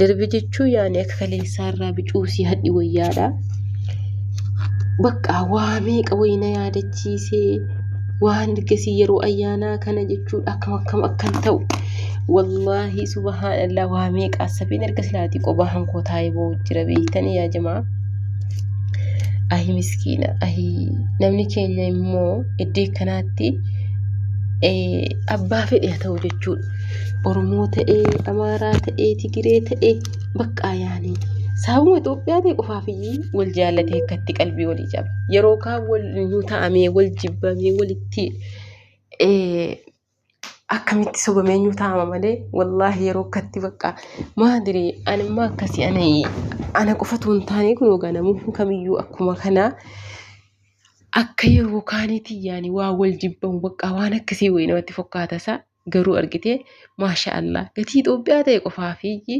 Darbe jechuun yaani akka kaleessaa irraa bicuu si hadhi wayyaadha. Bakka waa meeqa wayii na yaadachiisee waan ergasii yeroo ayyaanaa kana jechuudha akkam akkam akkan ta'u. Wallaahi subhaanallah waa meeqa assabiin erga silaatii qobaa hankoo taa'ee boo'u jira beektanii yaa jamaa. Ahi miskiina ahi namni keenya immoo iddoo akkanaatti abbaa fedhe haa ta'u jechuudha. Oromoo ta'ee, Amaaraa ta'ee, Tigiree ta'ee baqqaa yaanii. Saabuma Itoophiyaa ta'e qofaaf iyyuu wal jaallatee akkatti qalbii walii caba. Yeroo kaan wal nu ta'amee, wal jibbamee, walitti akkamitti sobamee nu ta'ama malee wallaahi yeroo akkatti baqqaa maadiri animmaa akkasii ani ana qofatu hin taane kun egaa namoonni kamiyyuu akkuma kanaa akka yeroo kaaniitii yaani waa wal jibbamu baqqaa waan akkasii wayii namatti fakkaata isaa. garuu argitee maasha allah gatii Itoophiyaa ta'e qofaaf iyyi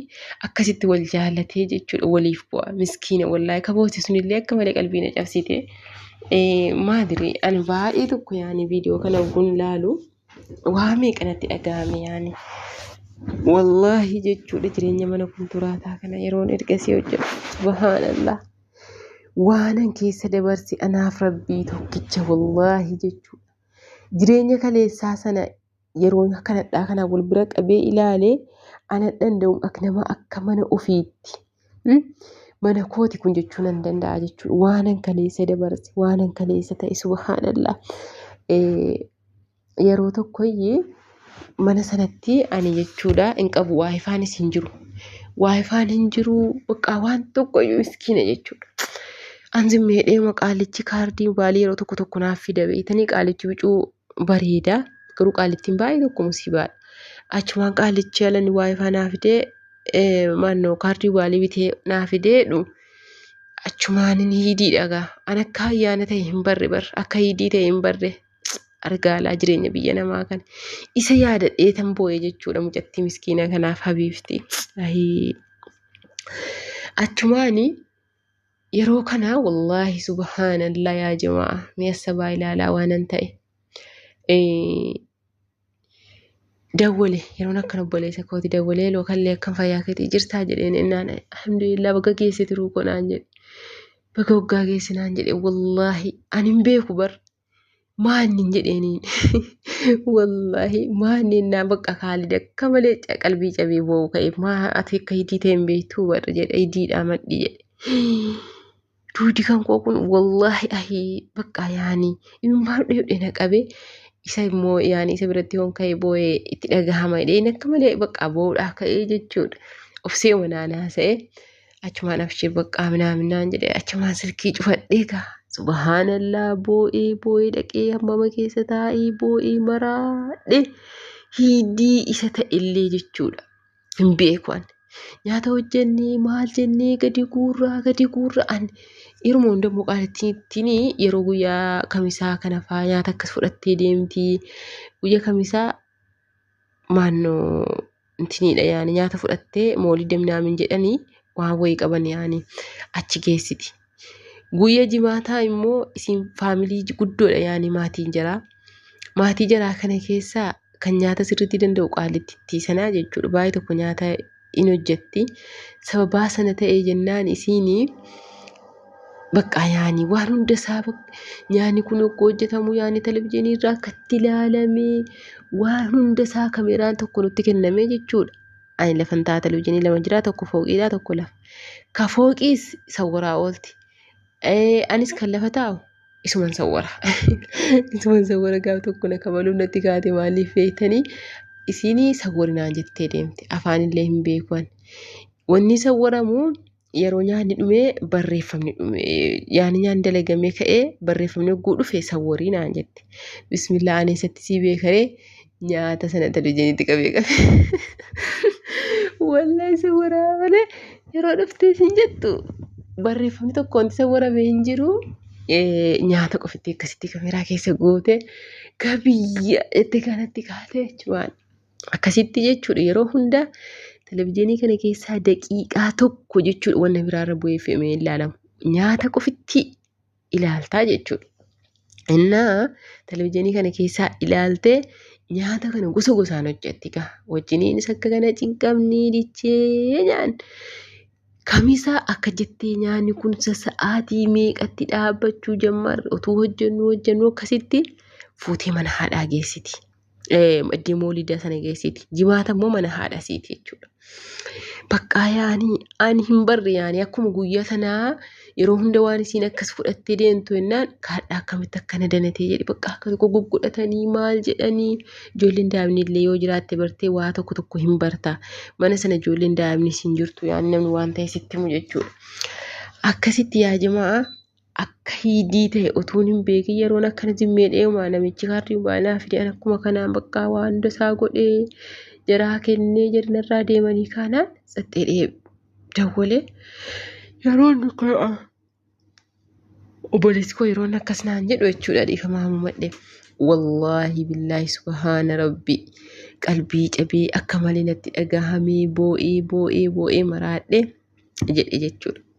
akkasitti wal jaalatee jechuudha waliif bu'a miskiina wallaahi kabooti sunillee akka malee qalbii na cabsite maadiri ani baay'ee tokko yaani viidiyoo kana ogguun laalu waa meeqa natti dhaga'ame yaani wallaahi jechuudha jireenya mana kunturaataa kana yeroon ergasii hojjedhu subhaanallah waanan keessa dabarse anaaf rabbii tokkicha wallaahi jechuudha. Jireenya kaleessaa sana yeroo akka nadhaa kana wal bira qabee ilaale ana danda'u akka nama akka mana ofiitti hmm, mana kooti kun jechuu nan danda'a jechuudha. Waanan kaleessa dabarse, waanan kaleessa ta'e subhaanallah. Eh, Yeroo tokkoyyee mana sanatti ani jechuudha hin qabu waayifaanis hin jiru waayifaan hin jiru baqqaa waan tokkoyyuu miskiina jechuudha an zimmeedhee maqaalichi kaardii baalii yeroo tokko tokko naaf fida beektanii qaalichi bicuu bareeda garuu qaalittiin baay'ee tokko musiibaadha achumaan qaalichi alani waayifaa naaf fidee eh, maannoo kaardii baalii bitee naaf fidee dhu achumaanin hiidii dhagaa an akka ayyaana ta'e hin barre bar akka hiidii ta'e hin barre argaalaa jireenya biyya namaa kana isa yaadadhee tan boo'e jechuudha mucattii miskiina kanaaf habiifti ahii achumaani yeroo kana wallaahi subhaanallaa yaa jamaa mi'a sabaa ilaalaa waanan ta'e Eh, dawwale yeroon akkan obboleessa kooti dawwalee loo kallee akkan fayyaa keetii jirtaa jedheen innaan alhamdulillah baga geesse tiruu koo naan jedhe baga waggaa geesse naan jedhe wallaahi ani hin beeku bar maannin jedheeniin wallaahi maannin naa bakka kaalid akka malee qalbii cabee boo'u ka'e maa ati akka hidii ta'e hin beektuu barra jedhe hidiidhaa madhi jedhe. Duudi kan koo kun wallaahi ahii bakka yaani imimmaan dhudhe na qabe isa immoo yaani isa biratti yoon ka'e boo'ee itti dhagahama jedheen akka malee bakka boo'uudhaa ka'ee jechuudha. Obsee manaan haasa'e. achumaan abshir baqqaa minaamin naan jedhe achumaan silkii cufadhee gaa subhaanallaa boo'ee boo'ee dhaqee hammama keessa taa'ee boo'ee maraadhe hiidii isa ta'ellee jechuudha hin beeku ani nyaata hojjennee maal jennee gadi guurraa gadi guurraa ani yeruma hunda immoo qaalittiin yeroo guyyaa kamisaa kana faa nyaata akkas fudhattee deemti guyyaa kamisaa maannoo intiniidha yaani nyaata fudhattee moolidda minaamin jedhanii waan wayii qaban yaani achi geessiti. Guyya jimaataa immoo isin faamilii guddoodha yaani maatiin jaraa. Maatii jaraa kana keessaa kan nyaata sirriitti danda'u qaallittitti sanaa jechuudha. Baay'ee tokko nyaata in hojjetti. Sababaa sana ta'ee jennaan isiinii Baqqaa yaani waan hunda isaa nyaani kun oggoo hojjetamu yaani televizyiinii irraa akkatti ilaalamee waan hunda isaa kameraan tokko nutti kennamee jechuudha. Ani lafan ta'a televizyiinii lama jira tokko fooqiidha tokko lafa. Ka fooqiis sawwaraa oolti. Anis kan lafa taa'u isuman sawwara. Isuman sawwara gaaf tokko na kabaluun natti kaate maaliif beektanii isiinii sawwarinaan jettee deemte afaanillee hin beekuan. Wanni sawwaramu yeroo nyaanni dhumee barreeffamni dhume yaani nyaanni dalagamee ka'ee barreeffamni hogguu dhufe sawwarii naan jette bismillaa ani isatti sii beekaree nyaata sana televizyiinitti qabee qabee wallahi sawwaraa malee yeroo dhuftee siin jettu barreeffamni tokko wanti sawwaramee hin jiru nyaata qofitti akkasitti kameraa keessa goote gabiyya itti kanatti kaatee jechuudha. Akkasitti jechuudha yeroo hunda televizyiinii kana keessaa daqiiqaa tokko jechuudha wanna biraarra bu'ee fe'amee ilaalamu. Nyaata qofitti ilaaltaa jechuudha. Innaa televizyiinii kana keessaa ilaaltee nyaata kana gosa gosaan hojjetti gaa. Wajjiniinis akka kana cinqamnii dichee nyaan. Kamisaa akka jettee nyaanni kun sa'aatii meeqatti dhaabbachuu jammarre utuu hojjennu hojjennu akkasitti fuutee mana haadhaa geessiti. Iddii moolidaa sana geessiti. Jimaata immoo mana haadha siiti jechuudha. Baqqaa yaanii ani hin barre yaanii akkuma guyyaa sanaa yeroo hunda waan isiin akkas fudhattee deemtu jennaan kaadhaa akkamitti akkana danatee jedhe baqqaa akka tokko gugguudhatanii maal jedhanii ijoolleen daa'imni illee yoo jiraatte bartee waa tokko tokko hin barta. Mana sana ijoolleen daa'imni siin jirtu yaanii namni waan ta'e sitti himu jechuudha. Akkasitti yaa jimaa akka hiidii ta'e utuun hin beekin yeroon akkana jimmee dheemaa namichi kaardii mobaayilaa fidee akkuma kanaan baqqaa waan hunda isaa godhee jaraa kennee jarnarraa deemanii kaanaan tsaxxee dhee dawwalee yeroon kun obboleessi koo yeroon akkas naan jedhu jechuudha dhiifamaa mumadhe wallaahi billaahi subhaana rabbi qalbii cabee akka malee natti dhagahamee boo'ee boo'ee boo'ee maraadhe jedhe jechuudha.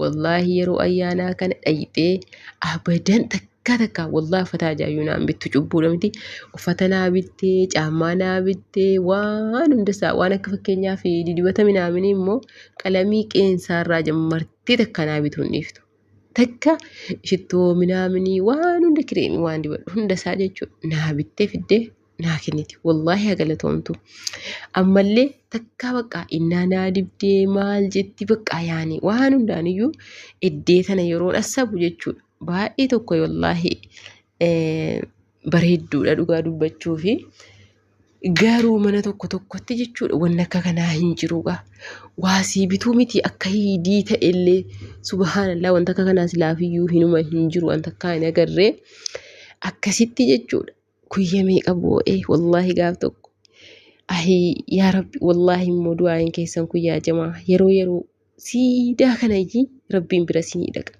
Wallaahi yeroo ayyaanaa kana dhayxee abadan takkaa takkaa wallaahi uffata ajaa'iyyuu naan bittu cubbuudha miti. Uffata naa bittee, caammaa naa bittee, waan hunda isaa waan akka fakkeenyaaf didibata minaaminii immoo qalamii qeensaa irraa jammartee takka naa bituu hin dhiiftu. Takka shittoo minaaminii waan hunda kireemii waan dibadhu hunda isaa jechuudha naa bittee fiddee naa kenniti wallaahi haa galatoomtu ammallee takkaa baqqaa innaa naa dibdee maal jetti baqqaa yaani waan hundaaniyyuu eddee tana yeroon assabu jechuudha baay'ee tokko wallaahi bareedduudha dhugaa dubbachuu fi garuu mana tokko tokkotti jechuudha wanni akka kanaa hin jiruudha waasii bituu miti akka hiidii ta'ellee subhaanallaa wanta akka kanaa silaafiyyuu hinuma hin jiru wanta akkaa hin agarree akkasitti jechuudha Guyya meeqa boo'ee wallaahi gaaf tokko. Ahii yaa rabbi wallaahi immoo du'aayin keessan kun yaa jamaa yeroo yeroo siidaa kana iyyii rabbiin bira sinii dhaqa.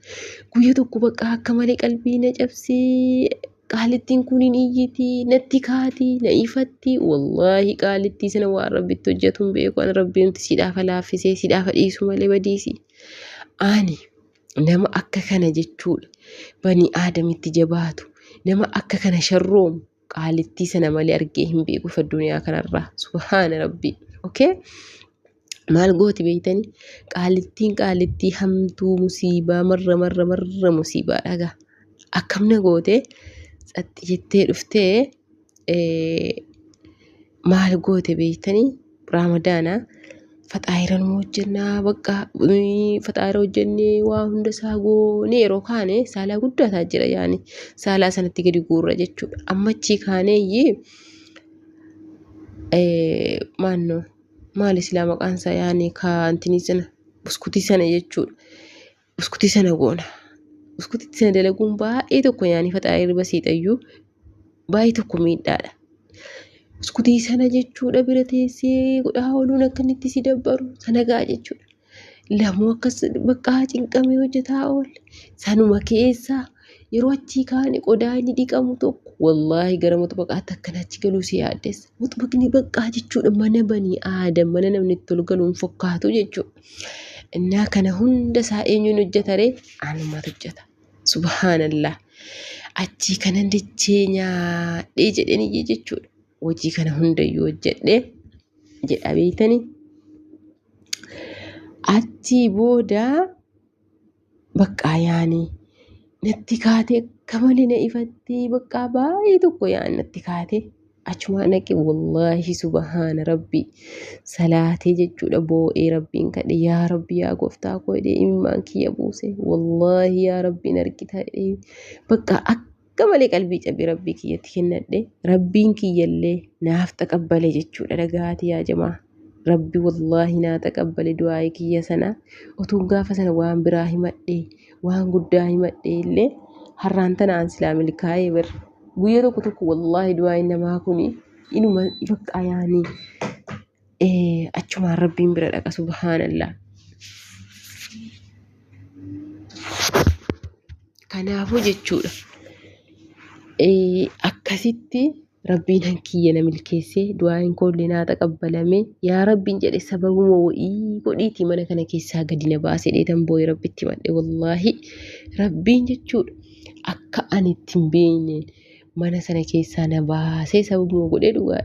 Guyya tokko bakka akka malee qalbii na cabsee qaalittiin kun hin iyyiti natti kaati na ifatti wallaahi qaalittii sana waan rabbitti hojjetu hin beeku an rabbiinti siidhaafa laaffisee siidhaafa dhiisu malee badiisi. Ani nama akka kana jechuudha banii aadamitti jabaatu nama akka kana sharroomu qaalittii sana malee argee hin beekuuf addunyaa kanarraa subhaana rabbii okay maal gooti beeytanii qaalittiin qaalittii hamtuu musiibaa marra marra marra musiibaa dhagaa akkamna gootee tsaxxi jettee dhuftee maal goote beektanii raamadaana faxaayira nu hojjennaa bakka faxaayira hojjennee waa hunda isaa goonee yeroo kaane saalaa guddaa ta'a jira yaani saalaa sanatti gadi guurra jechuudha amma achii kaaneeyyii maannoo maal islaa maqaan isaa yaani kaantinii sana buskutii sana jechuudha. Uskutii sana goona. Uskutii sana dalaguun baay'ee tokko yaanii faxaarii irra basiixayyuu baay'ee tokko miidhaadha. Uskutii sana jechuudha bira teessee godhaa ooluun akka inni itti si dabbaru sana ga'a jechuudha. Lamoo akkas baqqaa cinqamee hojjetaa oole sanuma keessaa yeroo achii kaane qodaa inni dhiqamu tokko wallaahi gara muxbaqaatti akkan achi galuu si yaaddeessa. Muxbaqni baqqaa jechuudha mana banii aadam mana namni itti ol galuun fakkaatu jechuudha. Innaa kana hunda isaa eenyuun hojjeta ree? Anumatu hojjeta. Subhaanallah. Achii kanan dachee nyaadhee jedheen iyyee jechuudha. Hojii kana hundayyuu hojjedhee jedha beektanii. Achii booda Baqqaa yaani natti kaatee akka malee na ifattee baqqaa baay'ee tokko yaani natti kaatee achumaa naqe wallaahi subahaana rabbii salaatee jechuudha boo'ee rabbiin kadhe yaa rabbi yaa gooftaa koo jedhee imimmaan kiyya buuse wallaahi yaa rabbiin argita jedhee baqqaa akka Akka malee qalbii cabe rabbii kiyyatti kennadhe rabbiin kiyyallee naaf taqabbale jechuudha dhagahaati yaa jamaa. Rabbi wallaahi naa taqabbale du'aa'ii kiyya sana otuun gaafa sana waan biraa himadhe waan guddaa himadhe illee har'aan tana aan silaa milkaa'ee bar. Guyya tokko tokko wallaahi du'aa'iin namaa kuni inuma bakka ayaanii achumaan rabbiin bira dhaqa subhaanallah. Kanaafuu jechuudha akkasitti rabbiin hankiyya na milkeessee du'aa hin koollee naa taqabbalame yaa rabbiin jedhe sababuma wa'ii godhiitii mana kana keessaa gadi na baasee dheetan boo'e rabbitti madhe wallaahi rabbiin jechuudha akka ani ittiin beekneen mana sana keessaa na baasee sababuma godhee dhugaa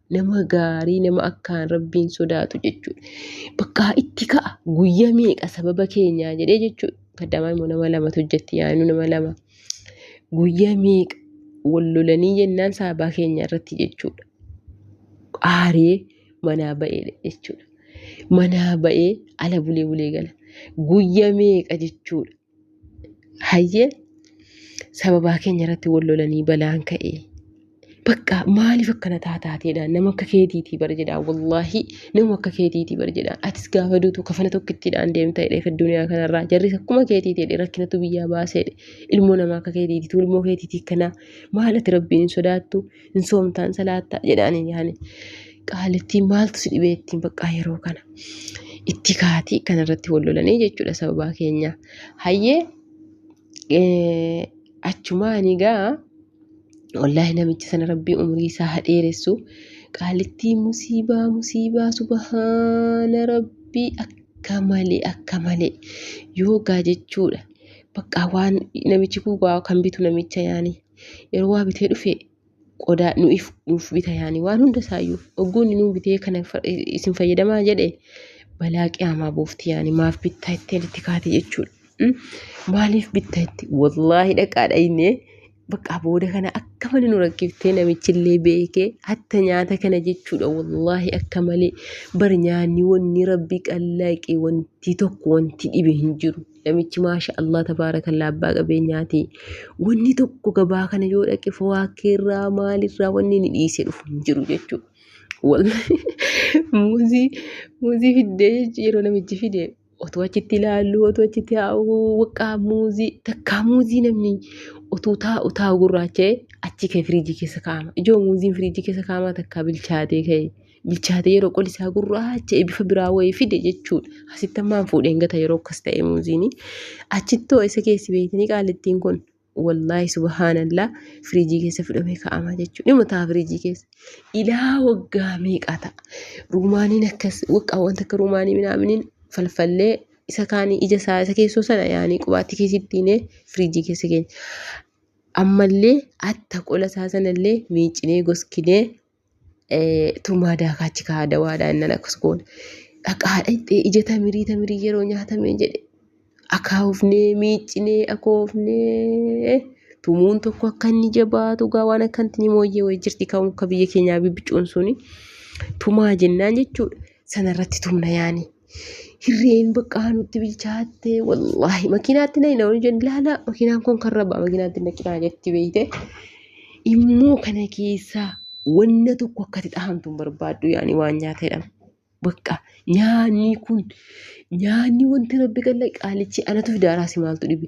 nama gaarii nama akkaan rabbiin sodaatu jechuudha. Bakka itti ka'a guyya meeqa sababa keenyaa jedhee jechuudha. Kaddamaa immoo nama lamatu hojjetti yaa'inu nama lama. Guyya meeqa wal lolanii jennaan sababa keenya irratti jechuudha. Aaree manaa ba'eedha jechuudha. Manaa ba'ee ala bulee bulee gala. Guyya meeqa jechuudha. Hayyee sababaa keenya irratti wal lolanii balaan ka'e. Bakka maaliif akkana taataateedha nama akka keetiitii bar jedhaa wallaahi nama akka keetiitii bar jedhaa atis gaafa duutu kafana tokkittiidhaan deemta jedhee fi addunyaa kanarraa jarris akkuma keetiitii jedhee rakkinatu biyyaa baaseedhe ilmoo namaa akka keetiitii ilmoo keetiitii kanaa maal ati rabbiin hin sodaattu hin soomtaan salaattaa jedhaaniin yaani qaalittiin maaltu si dhibee ittiin baqqaa yeroo kana itti kaatii kan irratti wal lolanii jechuudha sababaa keenya hayyee achumaa ani gaa wallaahi namichi sana rabbii umrii isaa haa dheeressu qaalittii musiibaa musiibaa subahaana rabbii akka malee akka malee yoogaa jechuudha baqqaa waan namichi kuubaa kan bitu namicha yaanii. yeroo waa bitee dhufe qodaa nu'if nuuf bita yaani waan hunda isaayyuu ogguunni nuu bitee kana fa- isin fayyadamaa jedhe balaa qiyaamaa buufti yaani maaf bittaa itti itti kaate jechuudha. Mm? Maaliif bittaa itti wallaahi dhaqaadha inni bakka booda kana akka malee nu rakkiftee namichillee beekee hatta nyaata kana jechuudha wallaahi akka malee bar nyaanni wanni rabbi qallaaqe wanti tokko wanti dhibe hin jiru. Namichi maasha Allah tabaarakallaa abbaa qabeenyaati. Wanni tokko gabaa kana yoo dhaqe fawaakeerraa maalirraa wanni inni dhiisee dhufu hin jiru jechuudha. Wallahi muuzii muuzii fiddee jechuun yeroo namichi fide otoo achitti ilaallu otoo achitti haa'u waqqaa muuzii takkaa muuzii namni otoo taa'u taa'u gurraacha'e achi ka'e firiijii keessa kaa'ama. Ijoo muuziin firiijii keessa kaa'amaa takkaa bilchaatee ka'e. bilchaatee yeroo qoli isaa gurraacha bifa biraa wayii fide jechuudha. Asitti ammaan fuudheen gata yeroo akkas ta'e muuziini. Achittoo isa keessi beektanii qaalittiin kun wallaahi subhaanallaa firiijii keessa fudhamee kaa'ama jechuudha. Dhimma ta'a firiijii keessa. Ilaa waggaa meeqaa ta'a. Ruumaaniin akkas waqaa wanta akka ruumaanii minaaminiin falfallee isa kaanii ija isaa isa keessoo sana yaanii qubaatti keessittiinee firiijii keessa keenya. Ammallee atta qola isaa sanallee miicinee goskinee tumaa daakaa achi kaa'aa dawaadhaa innan akkas goona. Dhaqaa dhaqxee ija tamirii tamirii yeroo nyaatamee jedhe akaawufnee miiccinee akoofnee tumuun tokko akka inni jabaatu gaa waan akka inni mooyyee wayii jirti kan akka biyya keenyaa bibbicuun suni tumaa jennaan jechuudha. Sanarratti tumna yaani. Hirreen baqqaa nutti bilchaatte wallaahi makiinaatti na hin oolu jenna laala makiinaan kun kan rabbaa makiinaatti na cinaa jetti beeyte immoo kana keessaa wanna tokko akkati dhahamtu hin barbaaddu yaani waan nyaata jedhama. Bakka nyaanni kun nyaanni wanti rabbi kenne qaalichi anatu fidaaraasi maaltu dhibe.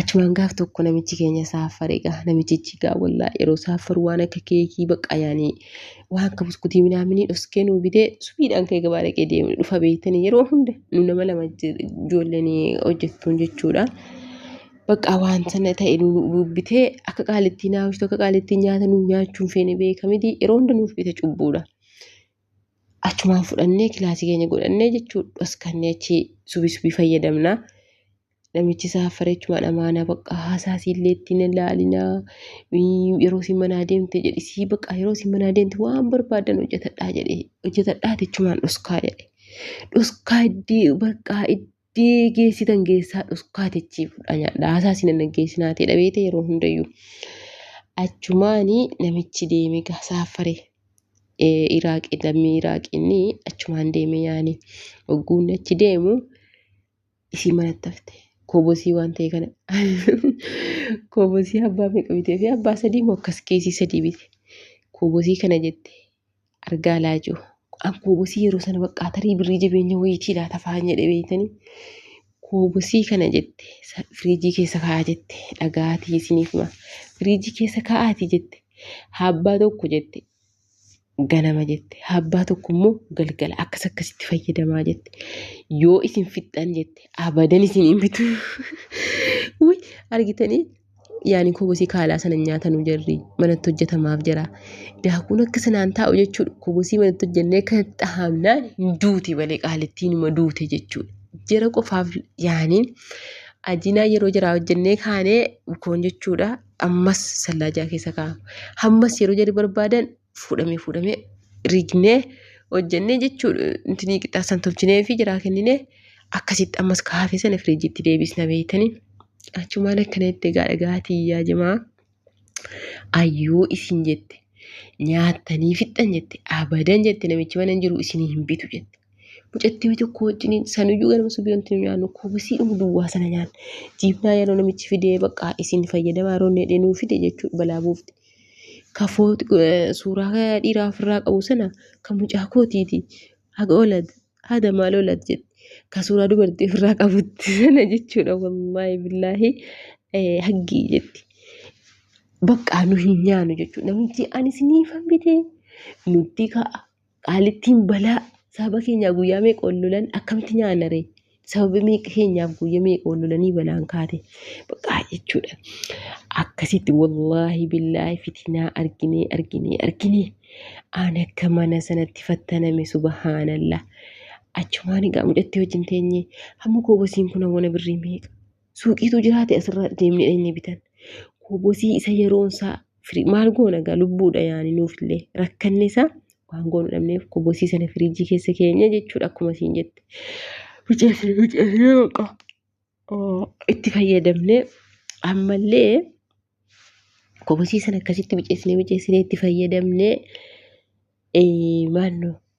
Achumaan gaaf tokko namichi keenya saaffare egaa namichichi egaa wallaa yeroo saaffaru waan akka keekii baqqaa yaanii waan akka buskutii minaaminii dhoskee nuu bitee subiidhaan kee gabaa dhaqee deemne dhufa beektanii yeroo hunda nu nama lama ijoolleen hojjettuun jechuudha. Baqqaa waan sana ta'e nu bitee akka qaalittii naawwistu akka qaalittii nyaata nuu nyaachuun feene beekamiti yeroo hunda nuuf bita cubbuudha. achumaan fudhannee kilaasii keenya godhannee jechuudha dhoskannee achi subii subii fayyadamna. Namichi saaffaree achumaan amaanaa baqqaa haasaa siillee ittiin hin laalinaa yeroo isin manaa deemte jedhi sii baqqaa yeroo isin manaa deemte waan barbaadan hojjetadhaa jedhe hojjetadhaa jechumaan dhoskaa jedhe dhoskaa iddii baqqaa iddii. deegeessitan geessaa dhuskaa techii fudhaa nyaadha haasaa isin hin dhaggeessinaa ta'e dhabeete yeroo hundayyuu achumaani namichi deeme gaa saaffare iraaqi lammii iraaqinni achumaan deeme yaani ogguunni achi deemu isii manatti hafte koobosii waan ta'e kana koobosii abbaa meeqa bitee fi abbaa sadii moo akkas keesii sadii bite koobosii kana jette Argaa laajuu. An koobosii yeroo sana baqqaa tarii birrii jabeenya wayiitii laata fa'aan jedhe beeytanii. Koobosii kana jette sa- firiijii keessa kaa'aa jette dhagaatii isiniif hima. Firiijii keessa kaa'aatii jette haabbaa tokko jette ganama jette haabbaa tokko immoo galgala akkas akkasitti fayyadamaa jette yoo isin fixxan jette abadan isin hin bitu. Wuy argitanii yaani kobosii kaalaa sana nyaatanu jarri manatti hojjetamaaf jira. Daakuun akka sanaan taa'u jechuudha. Kobosii manatti hojjennee akka dhahamnaan hin duuti malee qaalittiin ima duute jechuudha. Jara qofaaf yaani ajinaa yeroo jaraa hojjennee kaanee bukoon jechuudha. Ammas sallaajaa keessa kaa'ama. Hammas yeroo jarri barbaadan fuudhamee fuudhamee rignee hojjennee jechuu intinii qixxaa san tolchinee fi jiraa kenninee akkasitti ammas ka hafe sana firiijitti deebisna beeytanii achumaan akkana itti egaa dhagaatii yaa jimaa ayyuu isin jette nyaattanii fixxan jette abadan jette namichi mana hin jiru isinii hin bitu jette mucattii wayii tokko wajjiniin sanuyyuu ganama subiyoonti nu nyaannu kubisii dhumu duwwaa sana nyaanna jiibnaa yeroo namichi fidee baqqaa isin fayyadamaa yeroo inni jedhee nuu fide jechuudha balaa buufte Ka foot- eh, suuraa ka dhiiraa ofirraa qabu sana ka mucaa kootiiti. Haga olad, haada maal olad jedhe. Ka suuraa dubartii ofirraa qabutti sana jechuudha wallaahi billaahi eh, haggii jetti. Baqqaa nu hin nyaanu jechuudha. Namni ani siniifan bitee nutti ka'a. Qaalittiin balaa saba keenyaa guyyaa meeqa ol lolan akkamitti nyaanna ree? Sababa meeqa keenyaaf guyya meeqa ol lolanii balaan kaate. Baqaa jechuudha. Akkasitti wallaahi billaahi fitinaa arginee arginee arginee aan akka mana sanatti fattaname subhaanallah. Achumaan egaa mucatti wajjin teenye hamma koobasiin kun awwana birrii meeqa? suuqiitu jiraate asirra deemnee dhaqnee bitan. Kobosii isa yeroon isaa firii- maal goona egaa lubbuudha yaani nuufillee rakkanne isaa waan goonu dhabneef kobosii sana firiijii keessa keenya jechuudha akkuma siin jette. Bicheessee bicheessee baqa oo, itti fayyadamne ammallee kobosii sana akkasitti bicheessinee bicheessinee itti fayyadamne ee, maannoo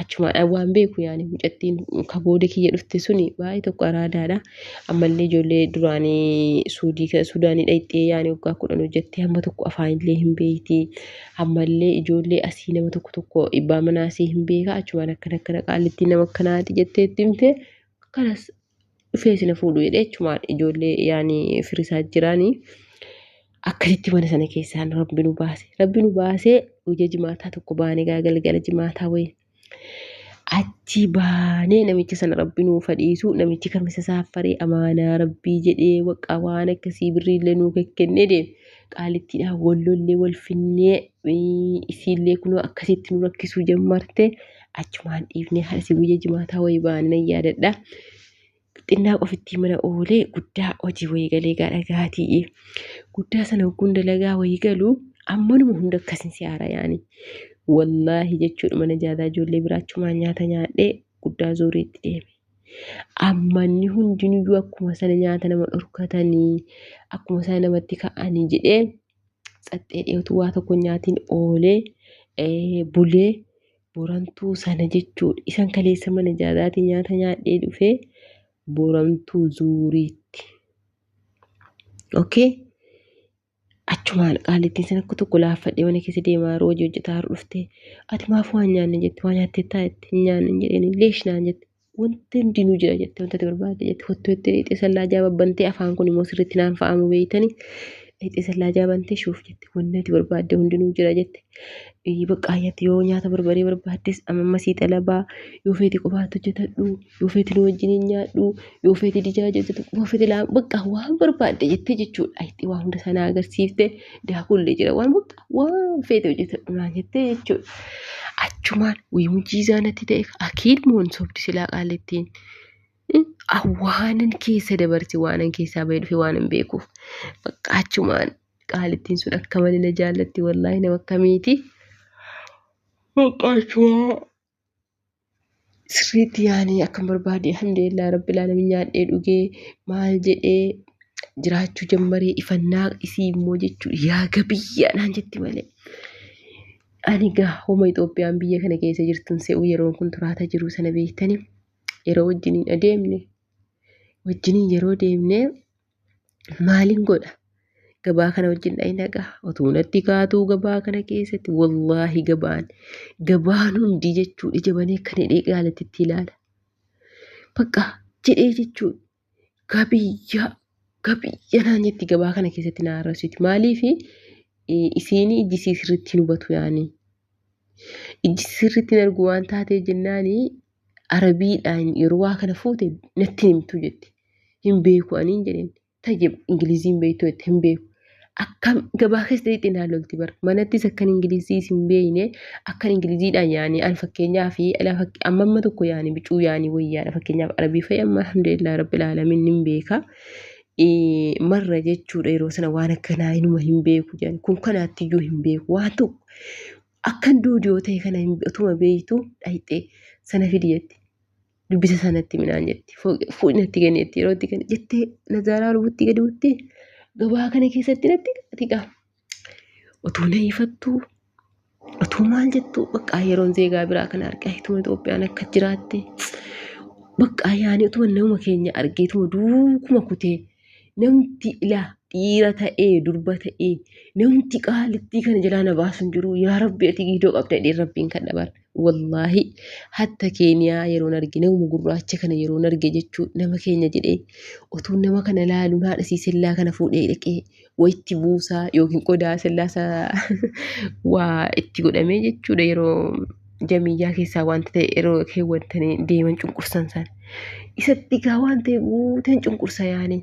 achumaadhaan waan beeku yaani mucattiin ka booda kiyya dhufte suni baay'ee tokko araadaadha ammallee ijoollee duraanii suudii ka- suudaanii dhayxee yaani waggaa kudhan hojjettee hamma tokko afaanillee hin beeyti ammallee ijoollee asii nama tokko tokko ibbaa manaasii hin beeka achumaan akkana akkana qaalittiin nama akkanaati jettee itti himte kanas dhufee sina fuudhu jedhee achumaan ijoollee yaani firisaa jiraanii akkasitti mana sana keessaan rabbi nu baase rabbi nu baasee guyya jimaataa tokko baanee gaa galgala jimaataa wayii achi baanee namicha sana rabbi nuu fadhiisu namichi kamisa saaffaree amaanaa rabbii jedhee waqqa waan akkasii birriillee nuu kekkennee deeme qaalittiidhaa wallollee wal finnee isiillee kunoo akkasitti nu rakkisuu jammarte achumaan dhiifnee harsi guyya jimaataa wayii baanina yaadadha. Xinnaa qofittii mana oolee guddaa hojii wayii galee gaadha gaatii. Guddaa sana hogguun dalagaa wayii galu ammanuma hunda akkasin si haara yaani. Wallaahi jechuudha mana jaataa ijoollee biraa achumaan nyaata nyaadhee guddaa zuuriitti deeme. Ammanni hundinuyyuu akkuma sana nyaata nama dhorkatanii akkuma sana namatti ka'anii jedhee Tsaxxee dhiyootu waa tokko nyaatiin oolee eh, bulee borantuu sana jechuudha. Isan kaleessa mana jaadaatii nyaata nyaadhee dhufee borantuu zuuriitti. Okay? Achumaan qaalittiin sana akka tokko laaffadhee mana keessa deemaa yeroo hojii hojjetaa yeroo dhufte ati maaf waan nyaanne jette waa nyaatteettaa jette hin nyaanne hin jedheen leesh naan jette. Wanti hundinuu jira jettee wanta ati barbaadde jette hottuu jettee dhixee sallaa jaaba bantee afaan kun immoo sirriitti naan fa'amu beeytani dhixee sallaa jaaba bantee shuuf jette wanti ati barbaadde hundinuu jira jette baqqaayyatti yoo nyaata barbaree barbaaddes amma sii xalabaa yoo feeti qofaatti hojjetadhu yoo feeti nu wajjin hin nyaadhu yoo feeti dijaa hojjetu yoo feeti laa baqqaa waan barbaadde jettee jechuudha itti waa hunda sana agarsiifte. daakuullee jira waan murtaa waan feete hojjetadhu naan jettee jechuudha. Achumaan wayii mujiizaa natti ta'e akiin moon sobdi silaa qaalittiin. Awwaanan keessa dabarse waanan keessaa bahee dhufe waanan beekuuf bakka achumaan qaalittiin sun akka malee na jaallatti wallaahi nama akkamiiti. Bakka achumaa sirriitti yaanii akkan barbaade alhamdulillah rabbil alamin nyaadhee dhugee maal jedhee jiraachuu jammaree ifannaa isii immoo jechuu yaa gabiyyaa naan jetti malee. Ani gaa homa Itoophiyaan biyya kana keessa jirtun se'u yeroon kun turaata jiru sana beektani yeroo wajjiniin adeemne wajjiniin yeroo deemne maalin godha gabaa kana wajjin dhayi naqa otuu natti kaatuu gabaa kana keessatti wallaahi gabaan gabaan hundi jechuun ija banee kan hidhee gaalatti itti ilaala bakka jedhee jechuun gabiyyaa gabiyya naan jetti gabaa kana keessatti na arrabsiti maaliif isiin ijji isii sirriitti hin hubatu yaani ijji isii sirriitti hin argu waan taatee jennaani Arabiidhaan yeroo waa kana fuute natti himtu jette. Hin beeku aniin jedheen. Tayyib Ingiliziin beektu jette hin beeku. Akkam gabaa keessa jettee naan lolti bar. Manattis akkan Ingilizii isin beekne akkan Ingiliziidhaan yaani an fakkeenyaa fi amma amma tokko yaani bicuu yaani wayyaadha fakkeenyaaf Arabii fa'i amma alhamdulillah rabbil alamin nin beeka. Marra jechuudha yeroo sana waan akkanaa inuma hin beeku jedhan kun kanaatti iyyuu hin beeku waan tokko Akkan duudi'oo ta'e kana hin- utuma beektu dhayxee sana fidi jetti. Dubbisa sanatti minaan jetti. Fooqi- Fuudhi natti kenni jetti. Yeroo itti kenni jettee nazaaraa lubutti gadi buutti. Gabaa kana keessatti natti ati gaa. Utuu na ifattuu utuu maal jettuu baqqaa yeroon zeegaa biraa kana argaa ituma Itoophiyaan akka jiraatte baqqaa yaani utuma nama keenya argee ituma duukuma kutee namti ilaa dhiira ta'ee durba ta'ee namti qaalittii kana jalaa na baasu hin jiru yaa rabbi ati giidoo qabda jedhee rabbiin kan dhabar wallaahi hatta keeniyaa yeroon arge nama gurraacha kana yeroon arge jechuu nama keenya jedhee otuu nama kana laaluun haadha siisellaa kana fuudhee dhaqee walitti buusaa yookiin qodaa sillaasa waa itti godhamee jechuudha yeroo jamiyyaa keessaa wanti ta'e yeroo keewwatanii deeman cunqursan san isatti gaa waan ta'e guuteen cunqursa yaanii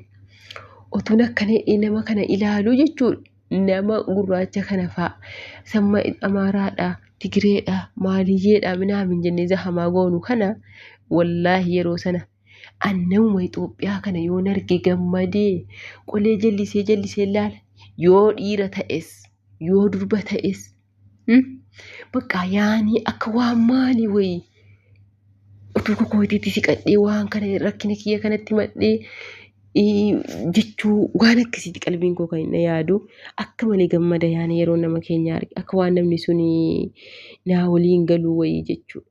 otuun akkana hidhee nama kana ilaaluu jechuudha nama gurraacha kana fa'a samma amaaraadha tigireedha maaliyyeedha minaamin jennee zahamaa goonu kana wallaahi yeroo sana An nama Itoophiyaa kana yoon arge gammadee qolee jallisee jallisee laala. Yoo dhiira ta'es, yoo durba ta'es. hmm? Bakka yaanii akka waan maalii wayii. Utuu kokootiitti siqadhee waan kana rakkina kiyya kanatti madhee ii, jechuu waan akkasiitti qalbiin koo kan inni yaadu akka malee gammada yaanii yeroo nama keenya arge akka waan namni sun naa waliin galuu wayii jechuudha.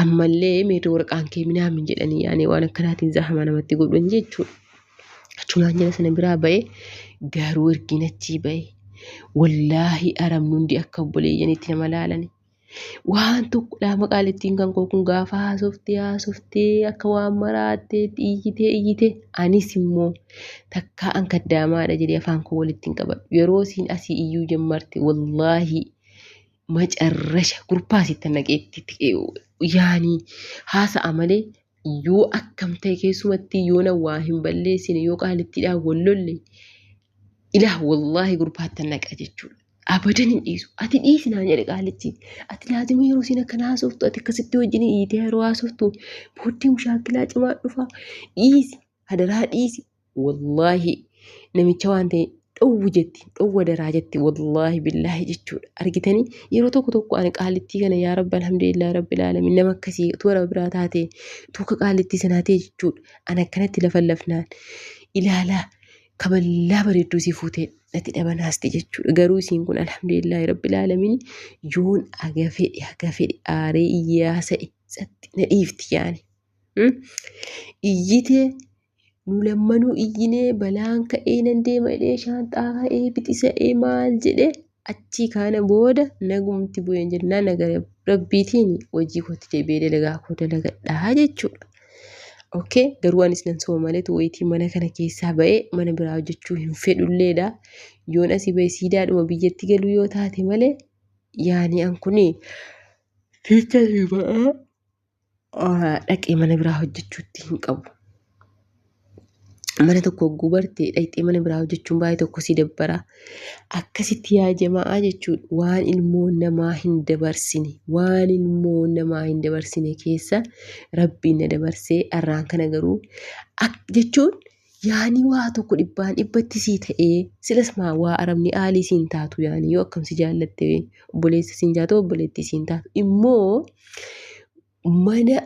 Ammallee mee doorqaan kee minaamin jedhanii yaanee waan akkanaatiin zaahamaa namatti godhan jechuudha. Achumaan jala sana biraa ba'ee garuu ergiin achii ba'e. Wallaahi arabni hundi akka obboleeyyanitti nama laalani. Waan tokko dhaama qaalittiin kan koo kun gaafa haasoftee haasoftee akka waan maraattee iyyitee iyyitee anis immoo takkaa an kaddaamaadha jedhee afaan koo walitti hin qabadhu. Yeroo siin asii iyyuu jammarte wallaahi macarrasha gurbaa sitti naqeetti yaanii haasa'a malee yoo akkam ta'e keessumattii yoona waa hin balleessine yoo qaalittiidhaan wal lolle ilaah wallaahi gurbaatti naqa jechuudha. Abadan hin dhiisu. Ati dhiisi naan jedhe qaalitti. Ati laazima yeroo siin akkana haasoftu ati akkasitti wajjin hiitee yeroo haasoftu booddee mushaakilaa cimaa dhufa dhiisi. Hadaraa dhiisi. Wallaahi namicha waan ta'e dhowwu jetti dhowwa daraa jetti wallaahi billaahi jechuudha argitanii yeroo tokko tokko ani qaalittii kana yaa rabbi alhamdulillah rabbil alamin nama akkasii utuu warra biraa taate utuu akka qaalittii sanaa ta'e jechuudha ani akkanatti lafa lafnaan ilaalaa kaballaa bareedduu si fuutee natti dhabanaasti jechuudha garuu isiin kun alhamdulillah rabbil alamin yoon aga fedhe aga fedhe aaree iyyaa sa'e satti na dhiifti yaani iyyite nu lammanuu iyyinee balaan ka'ee nan deema jedhee shaanxaa ka'ee bixisa'ee maal jedhee achii kaana booda nagumti bu'een jennaa nagara rabbiitiin hojii kootti deebi'ee dalagaa koo dalagadhaa jechuudha. Okkee garuu anis nan sooma maleetu wayitii mana kana keessaa ba'ee mana biraa hojjechuu hin fedhulleedha. Yoon asii ba'e siidaadhuma biyyatti galuu yoo taate malee yaani an kuni fiicha ba'aa dhaqee mana biraa hojjechuutti hin qabu. Mana tokko hogguu bartee dhaqxee mana biraa hojjechuun baay'ee tokko si dabbara. Akkasitti yaa jama'aa jechuudha waan ilmoo namaa hin dabarsine waan ilmoo namaa hin dabarsine keessa rabbiin na dabarsee arraan kana garuu jechuun yaani waa tokko dhibbaan dhibbatti sii ta'ee silas maa waa arabni aalii siin taatu yaani yoo akkam si jaallatte obboleessa siin jaatu obboleettii siin taatu immoo mana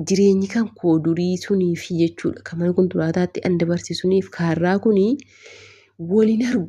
jireenyi kan koo durii sunii fi jechuudha kan mana kunturaataatti an dabarse suniif kaarraa kunii waliin argu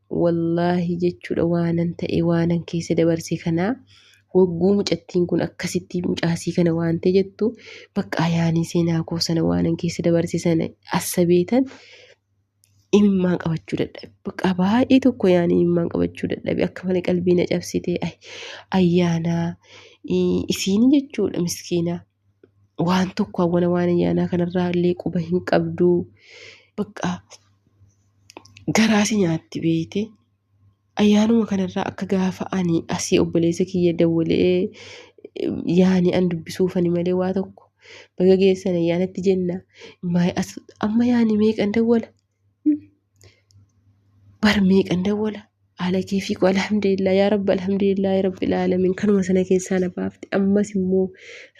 Wallaahi jechuudha waanan ta'e waanan keessa dabarse kanaa wagguu mucattiin kun akkasitti mucaasii kana waantee jettu bakka ayaanii seenaa koo sana waanan keessa dabarse sana assabeetan imimmaan qabachuu dadhabe bakka baay'ee tokko yaanii imimmaan qabachuu dadhabe akka malee qalbii na cabsite ayyaanaa isiini jechuudha miskiinaa. waan tokko hawwana waan ayyaanaa kanarraa illee quba hin qabdu bakka garaasi nyaatti beeyte ayyaanuma kanarraa akka gaafa ani asii obboleessa kiyya dawwalee yaani an dubbisuufani malee waa tokko baga geessan ayyaanatti jenna amma yaani meeqan dawwala bar meeqan dawwala haala keefii koo alhamdulillah yaa rabbi alhamdulillah rabbil aalamiin kanuma sana keessaa na baafte ammas immoo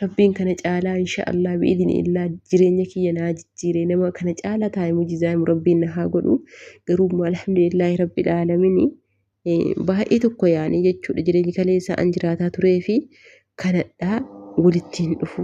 rabbiin kana caalaa insha allah bi'idini illaa jireenya kiyya naa jijjiire nama kana caalaa taa'e mujizaamu rabbiin na haa godhu garuu immoo alhamdulillah rabbil aalamiin baay'ee tokko yaanii jechuudha jireenyi kaleessaa an jiraataa turee fi kanadhaa walitti hin dhufu.